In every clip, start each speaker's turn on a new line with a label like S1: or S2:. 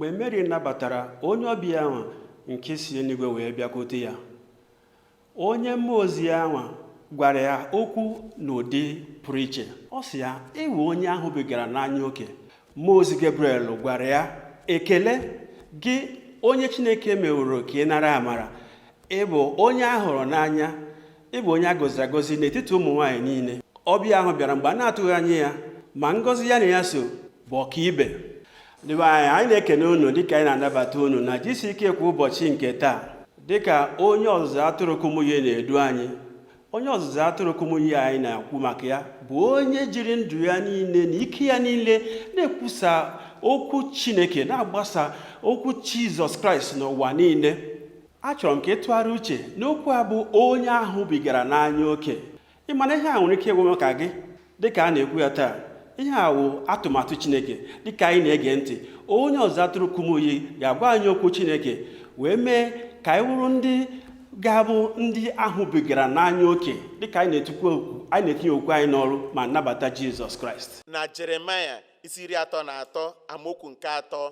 S1: mgbe mary nabatara onye ọbịa ahụ nke si eluigwe wee bịakwute ya onye mmụọ ozi ahụ gwara ya okwu n'ụdị pụrụ iche ọ sị ya ị wụ onye a hụbigara n'anya oke mmụọ ozi gabriel gwara ya ekele gị onye chineke meworo ka ị nara amara ị bụ onye a hụrụ n'anya ị bụ onye a gọziri agọzi n'etiti ụmụ nwaanyị niile ọbịa ahụ bịara mgbe a na-atụghị anya ya ma ngọzi ya na ya so bụ ọkaibe ndị be anyị anyị na-ekene unu dịka anyị na-anabata unu na gck kwa ụbọchị nke taa dịka onye ọzụzụ atụrụ kumuyi na-edu anyị onye ọzụzụ atụrụ kumuyi anyị na-ekwu maka ya bụ onye jiri ndụ ya niile na ike ya niile na-ekwusa okwu chineke na-agbasa okwu jizọs kraịst n'ụwa niile achọrọ m ka ị tụgharịa uche n'okwu a bụ onye a hụbigara n'anya oke ị ma na ihe a nwere ike ịgwa maka gị dịka a na-ekwu ya taa ihe a wụ atụmatụ chineke dịka anyị na-ege ntị onye ọzụzụ atụrụ kumuyi ga-agwa anyị okwu chineke wee mee ka anyị wụrụ ndị ga-abụ ndị a hụbigara n'anya oke dịka anyị na-etinye okwu anyị n'ọrụ ma nabata jizọs kraịst na jeremaya
S2: isi iri atọ na atọ amaokwu nke atọ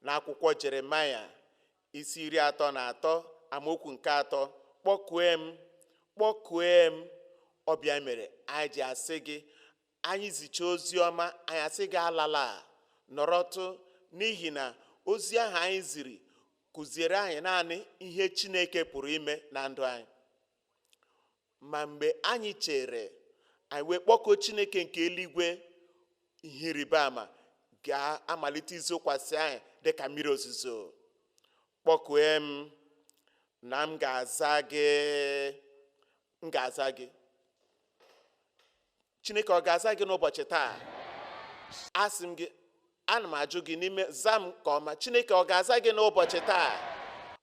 S2: na akwụkwọ jeremaya isi iri atọ na atọ amaokwu nke atọ kpọkue m kpọkue m ọ bụ ya mere anyị ji asị gị anyị zicha ozi ọma anyị asị gị alala nọrọtụ n'ihi na ozi ahụ anyị ziri kụziere anyị naanị ihe chineke pụrụ ime na ndụ anyị ma mgbe anyị chere anyị wee kpọkuo chineke nke eluigwe ihe ịrịba ama ga-amalite izokwasị anyị dị ka mmiri ozuzo kpọkue m na m ga-aza gị m ga-aza gị chineke ọ ga-aza gị n'ụbọchị taa asị m gị ana m ajụ gị n'ime zaa m nke ọma chineke ọ ga-aza gị n'ụbọchị taa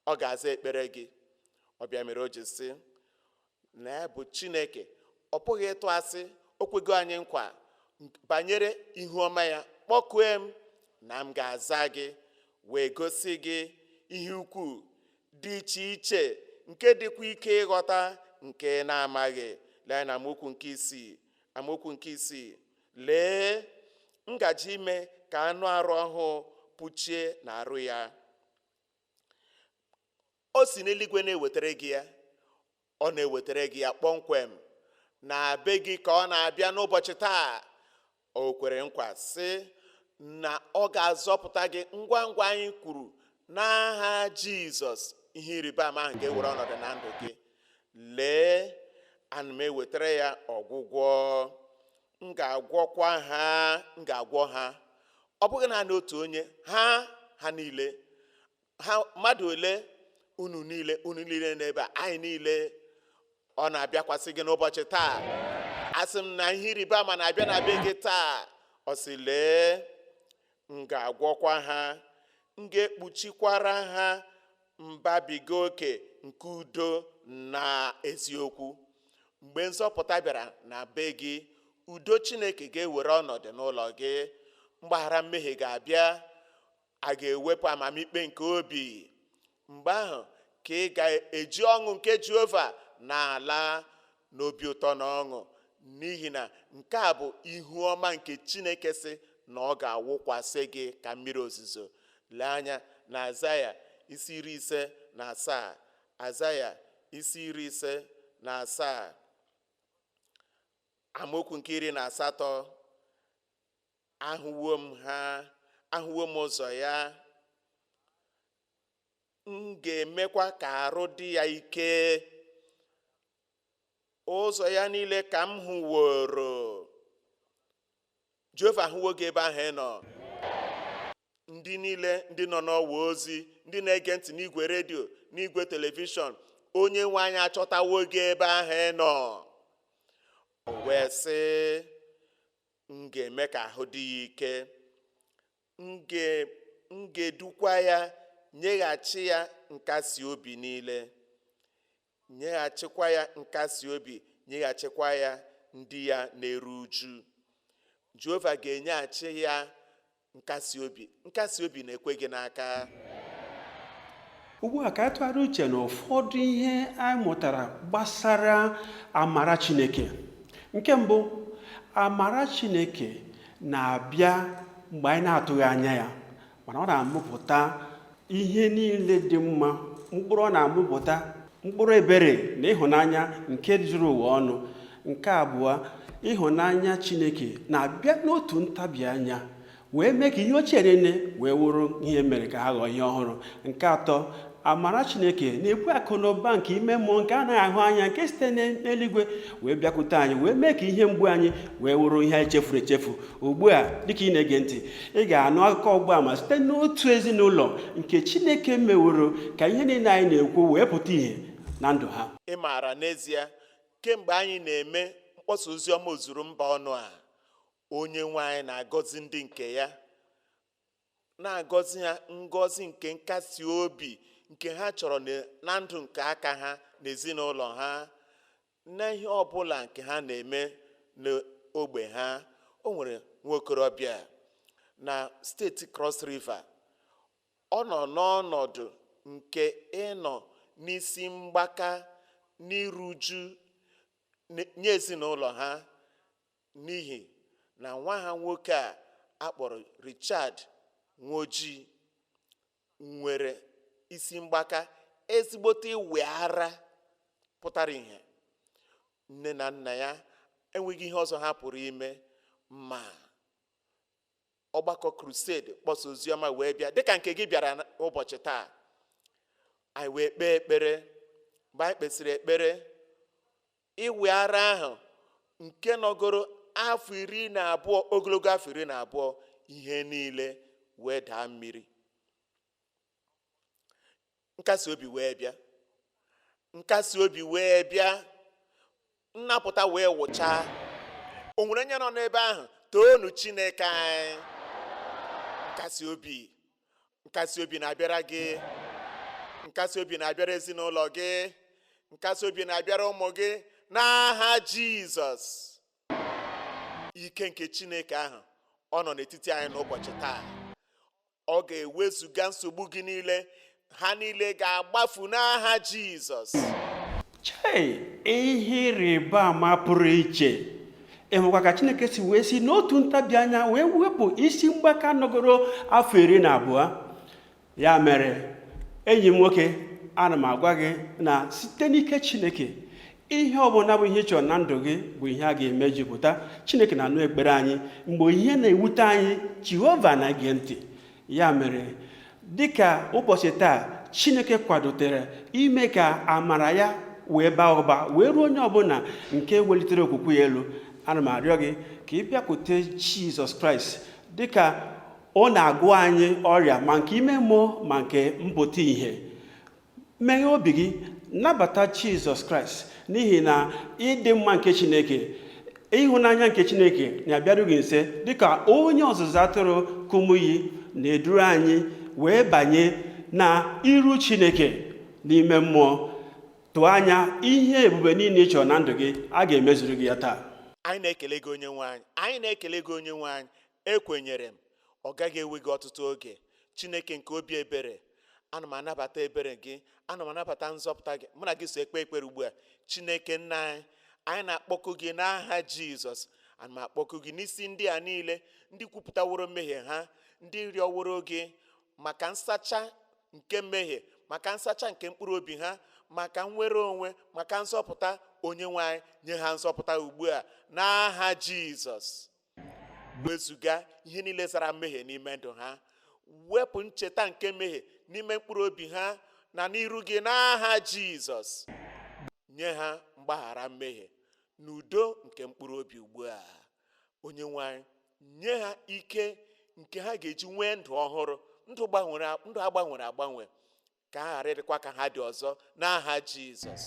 S2: ọ ga-aza ekpere gị ọ bụ ya mere o ji sị na ya bụ chineke ọ pụghị ịtụ asị o kwego anyị nkwa banyere ihu ọma ya kpọkue m na m ga-aza gị wee gosi gị ihe ukwuu dị iche iche nke dịkwa ike ịghọta nke ị na-amaghị lee anya na amaokwu nke isii amaokwu nke isii lee m gaje ime ka anụ arụ ọhụụ puchie na arụ ya o si n'eluigwe na-ewetara gị ya Ọ na-ewetara gị ya kpọmkwem na be gị ka ọ na-abịa n'ụbọchị taa o kwere nkwa sị na ọ ga-azọpụta gị ngwa ngwa anyị kwuru n'aha Jizọs ihe ịrịba ama ahụ ga-ewere ọnọdụ na ndụ gị lee ana m ewetara ya ọgwụgwọ m ga-agwọkwa ha m ga-agwọ ha ọ bụghị naanị otu onye ha ha niile ha mmadụ ole unu niile unu niile n'ebe a anyị niile ọ na-abịakwasị gị n'ụbọchị taa asị m na ihe ịrịba ama na-abịa na be gị taa ọ sị lee m ga-agwọkwa ha m ga-ekpuchikwara ha mbabiga oke nke udo na eziokwu mgbe nzọpụta bịara na be gị udo chineke ga-ewere ọnọdụ n'ụlọ gị mgbaghara mmehie ga-abịa a ga-ewepụ amamikpe nke obi mgbe ahụ ka ị ga-eji ọṅụ nke jehova na-ala n'obi ụtọ na ọṅụ n'ihi na nke a bụ ihu ọma nke chineke sị na ọ ga-awụkwasị gị ka mmiri ozuzo lee anya na aịzaya isi iri ise na asaa aịzaya isi iri ise na asaa amaokwu nke iri na asatọ ahụwo m ha ahụwo m ụzọ ya m ga-emekwa ka arụ dị ya ike ụzọ ya niile ka m hụworo jehova ahụwo gị ebe ahụ ị nọ ndị niile ndị nọ n'ọwa ozi ndị na-ege ntị n'igwe redio n'igwe telivishọn onye nwe anyị achọtawo gị ebe ahụ ị nọ o wee sị m ga-eme ka ahụ dị ya ike m ga-edukwa ya nyeghachi ya nkasi obi niile nyeghachikwa ya nkasi obi nyeghachikwa ya ndị ya na-eru uju jehova ga-enyeghachi ya nkasi obi nkasi obi na-ekwe gị
S1: n'aka ugbu a ka anyị tụgharịa uche na ụfọdụ ihe anyị mụtara gbasara amara chineke nke mbụ amara chineke na-abịa mgbe anyị na-atụghị anya ya mana ọ na-amụpụta ihe niile dị mma mkpụrụ ọ na-amụpụta mkpụrụ ebere na ịhụnanya nke juru ụwa ọnụ nke abụọ ịhụnanya chineke na-abịa n'otu ntabi anya wee mee ka ihe ochie niile wee wụrụ ihe mere ka ha ghọọ ihe ọhụrụ nke atọ amara chineke na-ebu akụ na ụba nke ime mmụọ nke anaghị ahụ anya nke site n'eluigwe wee bịakwute anyị wee mee ka ihe mgbu anyị wee wụrụ ihe anyị chefuru echefu ugbu a dịka ị na-ege ntị ị ga-anụ akụkọ ọgbaama site n'otu ezinụlọ nke Chineke meworo ka ihe niile anyị na-ekwu wee pụta ìhè na ndụ ha ị maara n'ezie
S2: kemgbe anyị na-eme mkpọsa ozi ọma ozuru mba ọnụ a onye nwe anyị na-agọzi ndị nke ya na-agọzi ha ngọzi nke nkasi obi nke ha chọrọ na- na ndụ nke aka ha na ezinụlọ ha Na ihe ọ bụla nke ha na-eme n'ogbe ha, o nwere nwa okorobịa na steeti Cross River. Ọ nọ n'ọnọdụ nke ịnọ n'isi mgbaka n'iru uju n- nye ezinụlọ ha n'ihi na nwa ha nwoke a akpọrọ Richard Nwoji nwere isi mgbaka ezigbote ịwị ara pụtara ìhè nne na nna ya enweghị ihe ọzọ ha pụrụ ime ma ọgbakọ crusade mkpọsa oziọma wee bịa dịka nke gị bịara na- ụbọchị taa anyị wee kpee ekpere mgbe anyị kpesịrị ekpere ịwị ara ahụ nke nọgoro afọ iri na abụọ ogologo afọ iri na abụọ ihe niile wee daa mmiri nkasi obi wee bịa nkasi obi wee bịa nnapụta wee wụchaa o nwere onye nọ n'ebe ahụ toonụ chineke anyị nkasi obi nkasi obi na-abịara gị nkasi obi na-abịara ezinụlọ gị nkasi obi na-abịara ụmụ gị n'aha jizọs ike nke chineke ahụ ọ nọ n'etiti anyị n'ụbọchị taa ọ ga-ewezuga nsogbu gị niile ha niile ga-agbafu n'aha jizọs
S1: chei ihe ịrịba ama pụrụ iche ị hụkwa ka chineke si wee si n'otu ntabi anya wee wepụ isi mgbaka nọgoro afọ iri na abụọ ya mere enyi m nwoke ana m agwa gị na site n'ike chineke ihe ọbụla bụ ihe ị chọrọ na ndụ gị bụ ihe a ga-emejupụta chineke na-anụ ekpere anyị mgbe ihe na-ewute anyị jehova na-ege ntị ya mere dịka ụbọchị taa chineke kwadotere ime ka amara ya wee baa ụba wee ruo onye ọbụla nke welitere okwukwe ya elu ana m arịọ gị ka ị bịakwute jizọs kraịst dịka ọ na-agwọ anyị ọrịa ma nke ime mmụọ ma nke mpụta ìhè meghee obi gị nabata jizọs kraịst n'ihi na ịdị mma nke chineke ịhụnanya nke chineke na-abịaru gị nso dịka onye ọzụzụ atụrụ kumuyi na-eduru anyị wee banye na iru chineke n'ime mmụọ tụọ anya ihe ebube niile ị chọrọ na ndụ gị a ga-emezuru gị ya taa anyị na-ekele gị
S2: onye nwe anyị anyị na-ekele gị onye nwe anyị Ekwenyere m, ọ gaghị ewe gị ọtụtụ oge. Chineke nke obi ebere, ana m anabata ebere gị, ana m anabata nzọpụta gị. Mụ na gị so ekpe ekpere ugbu a. Chineke nna anyị, anyị na-akpọku gị n'aha Jizọs. Ana m akpọku gị n'isi ndị a niile, ndị kwupụtaworo mmehie ha, ndị rịọworo gị maka nsacha nke mmehie, maka nsacha nke mkpụrụ obi ha, maka nnwere onwe, maka nzọpụta onye nwe anyị. Nye ha nzọpụta ugbu a n'aha Jizọs. wezuga ihe niile zara mmehie n'ime ndụ ha wepụ ncheta nke mmehie n'ime mkpụrụ obi ha na n'iru gị n'aha jizọs nye ha mgbaghara mmehie na udo nke mkpụrụ obi ugbu a onye nwe anyị nye ha ike nke ha ga-eji nwee ndụ ọhụrụ ndụ agbanwere agbanwe ka ha ghara ịdịkwa ka ha dị ọzọ n'aha jizọs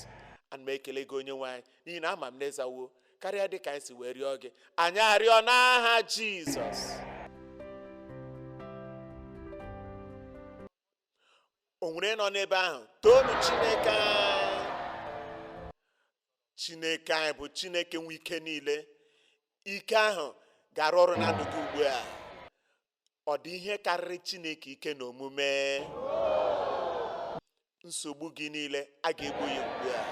S2: ana m ekele gị onye nwe anyị n'ihi na ama m na ị zawo karịa dị ka anyị si wee rịọ gị anyị arịọ n'aha jizọs o nwere nọ n'ebe ahụ toonu chineke anyị chineke anyị bụ chineke nwe ike niile ike ahụ ga-arụ ọrụ na ndụ gị ugbu a ọ dị ihe karịrị Chineke ike na omume nsogbu gị niile a ga-egbo ya ugbu a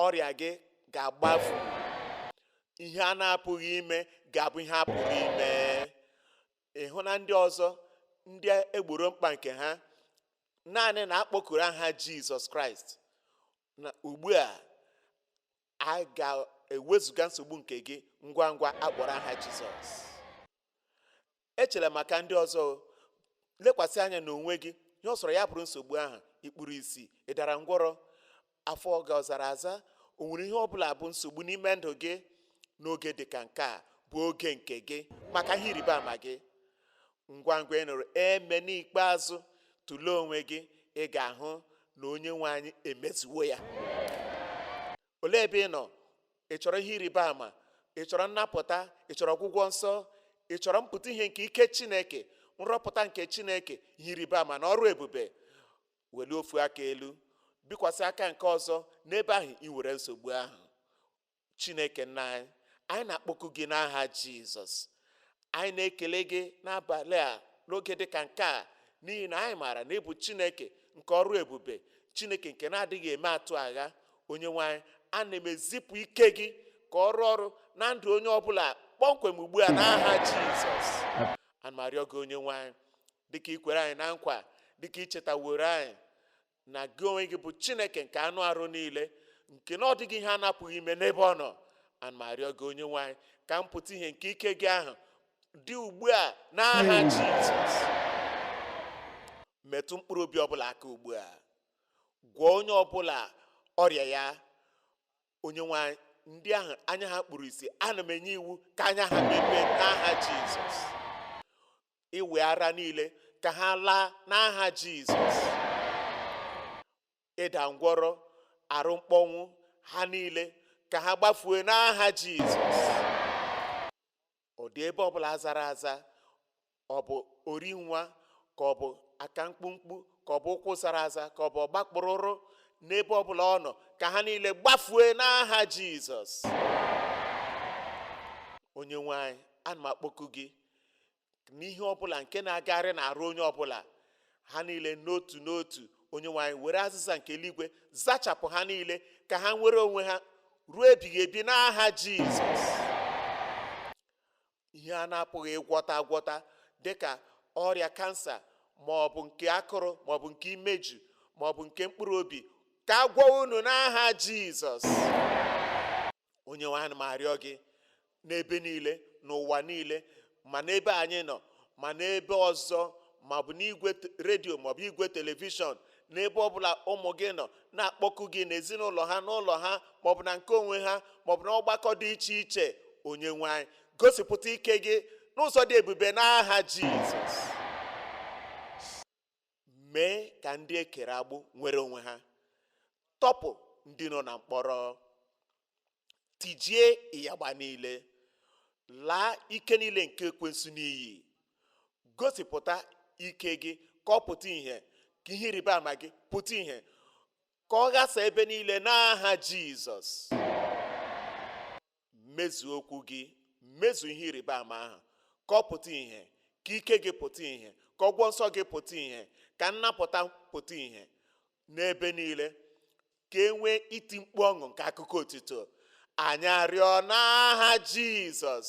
S2: ọrịa gị ga-agbafu ihe a na-apụghị ime ga-abụ ihe a pụrụ ime ịhụ na ndị ọzọ ndị e gboro mkpa nke ha naanị na a kpọkuru aha Jizọs Kraịst na ugbu a a ga-ewezuga nsogbu nke gị ngwa ngwa a kpọrọ aha jizọs echela maka ndị ọzọ lekwasị anya n'onwe gị ihe ọ sọrọ ya bụrụ nsogbu ahụ i kpuru isi ị dara ngwọrọ afọ gị ọ zara aza o nwere ihe ọ bụla bụ nsogbu n'ime ndụ gị n'oge dị ka nke a bụ oge nke gị maka ihe ịrịba ama gị ngwa ngwa ị nụrụ amen ikpeazụ tụlee onwe gị ị ga-ahụ na onye nwe anyị emezuwo ya olee ebe ị nọ ị chọrọ ihe ịrịba ama ị chọrọ nnapụta ị chọrọ ọgwụgwọ nsọ ị chọrọ mpụta ihe nke ike chineke nrọpụta nke chineke ihe ịrịba ama na ọrụ ebube welie ofu aka elu bikwasị aka nke ọzọ n'ebe ahụ i nwere nsogbu ahụ chineke nna anyị anyị na-akpọku gị n'aha jizọs anyị na-ekele gị n'abalị a n'oge dị ka nke a n'ihi na anyị maara na ị bụ chineke nke ọrụ ebube chineke nke na-adịghị eme atụ agha onye nwe anyị ana m ezipụ ike gị ka ọ rụọ ọrụ na ndụ onye ọbụla kpọmkwem ugbu a n'aha jizọs ana m arịọ gị onye nwe anyị dịka i kwere anyị na nkwa dịka i chetaworo anyị na gị onwe gị bụ chineke nke anụ arụ niile nke na ọ dịghị ihe a na-apụghị ime n'ebe ọ nọ ana m arịọ gị onye nwe anyị ka mpụta ihe nke ike gị ahụ dị ugbu a n'aha jizọs metụ mkpụrụ obi ọbụla aka ugbu a gwọọ onye ọbụla ọrịa ya onye nwe anyị ndị ahụ anya ha kpuru isi ana m enye iwu ka anya ha mepee n'aha jizọs ịwị ara niile ka ha laa n'aha Jizọs ịda ngwọrọ arụ mkpọnwụ ha niile ka ha gbafue n'aha Jizọs ọ dị ebe ọbụla zara aza ọ bụ ori nwa ka ọ bụ aka mkpumkpu ka ọ bụ ụkwụ zara aza ka ọ bụ ọgbakpụrụrụ n'ebe ọbụla ọ nọ ka ha niile gbafue n'aha Jizọs onye nwe anyị ana m akpọku gị n'ihe ọbụla nke na-agagharị n'arụ onye ọbụla ha niile n'otu n'otu onye nwe anyị were azịza nke eluigwe zachapụ ha niile ka ha nwere onwe ha ruo ebighị ebi n'aha jizọs ihe a na-apụghị ịgwọta agwọta dịka ọrịa kansa ma ọ bụ nke akụrụ ma ọ bụ nke imeju ma ọ bụ nke mkpụrụ obi ka a gwọọ unu n'aha jizọs onye nwe anyị ma arịọ gị n'ebe niile n'ụwa niile ma n'ebe anyị nọ ma n'ebe ọzọ maọbụ n'igwe t- redio maọbụ igwe telivishọn n'ebe ọbụla ụmụ gị nọ na-akpọku gị n'ezinụlọ ha n'ụlọ ha maọbụ na nke onwe ha maọbụ na ọgbakọ dị iche iche onye nwe anyị gosipụta ike gị n'ụzọ dị ebube n'aha jizọs mee ka ndị e kere agbụ nwere onwe ha tọpụ ndị nọ na mkpọrọ tijie ịyagba niile laa ike niile nke ekwensu n'iyi gosipụta ike gị ka ọ pụta ihe ka ihe ịrịba ama gị pụta ihe ka ọ ghasa ebe niile n'aha jizọs mezu okwu gị mezu ihe ịrịba ama ahụ ka ọ pụta ihe ka ike gị pụta ihe ka ọgwọ nsọ gị pụta ihe ka nnapụta pụta ihe n'ebe niile ka e nwee iti mkpu ọṅụ nke akụkọ otito anyị arịọ n'aha jizọs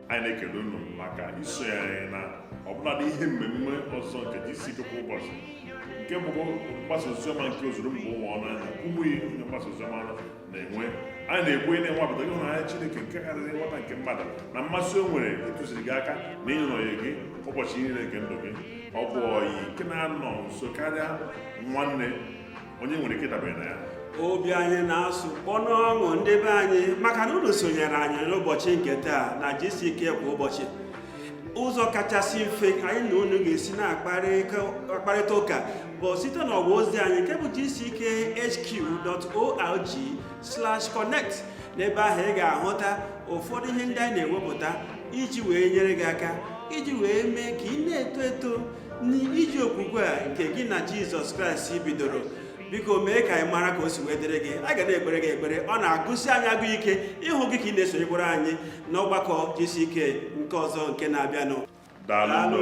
S3: anyị na-ekele unu maka isonye anyị na ọbụladị ihe mmemme ọzọ nke GCK kwa ụbọchị nke bụkwa mgbasa oziọma nke ozuru mba ụwa ọnụ Kumuyi onye mgbasa oziọma na-enwe anyị na-ekwenye na ị nwapụtago ịhụnanya Chineke nke karịrị nghọta nke mmadụ na mmasị o nwere ịtụziri gị aka na ịnọnye gị ụbọchị niile nke ndụ gị ọ bụ ọyị nke na-anọ nso karịa nwanne onye nwere ike dabere na ya obi
S1: anyị na-asụ kpọ n'ọṅụ ndị be anyị maka na unu sonyere anyị n'ụbọchị nke taa na gck kwa ụbọchị ụzọ kachasị mfe anyị na unu ga-esi na-akparịta ụka bụ site n'ọwa ozi anyị nke bụ gckhq.org/connect n'ebe ahụ ị ga-ahụta ụfọdụ ihe ndị anyị na-ewepụta iji wee nyere gị aka iji wee mee ka ị na-eto eto n'ije okwukwe a nke gị na jizọs kraịst bidoro biko mee ka anyị mara ka o si wee dịrị gị a ga na-ekpere gị ekpere ọ na-agụsi anyị agụ ike ịhụ gị ka ị na-esonyekwara anyị n'ọgbakọ gck nke
S3: ọzọ
S1: nke na-abịanụ daalụ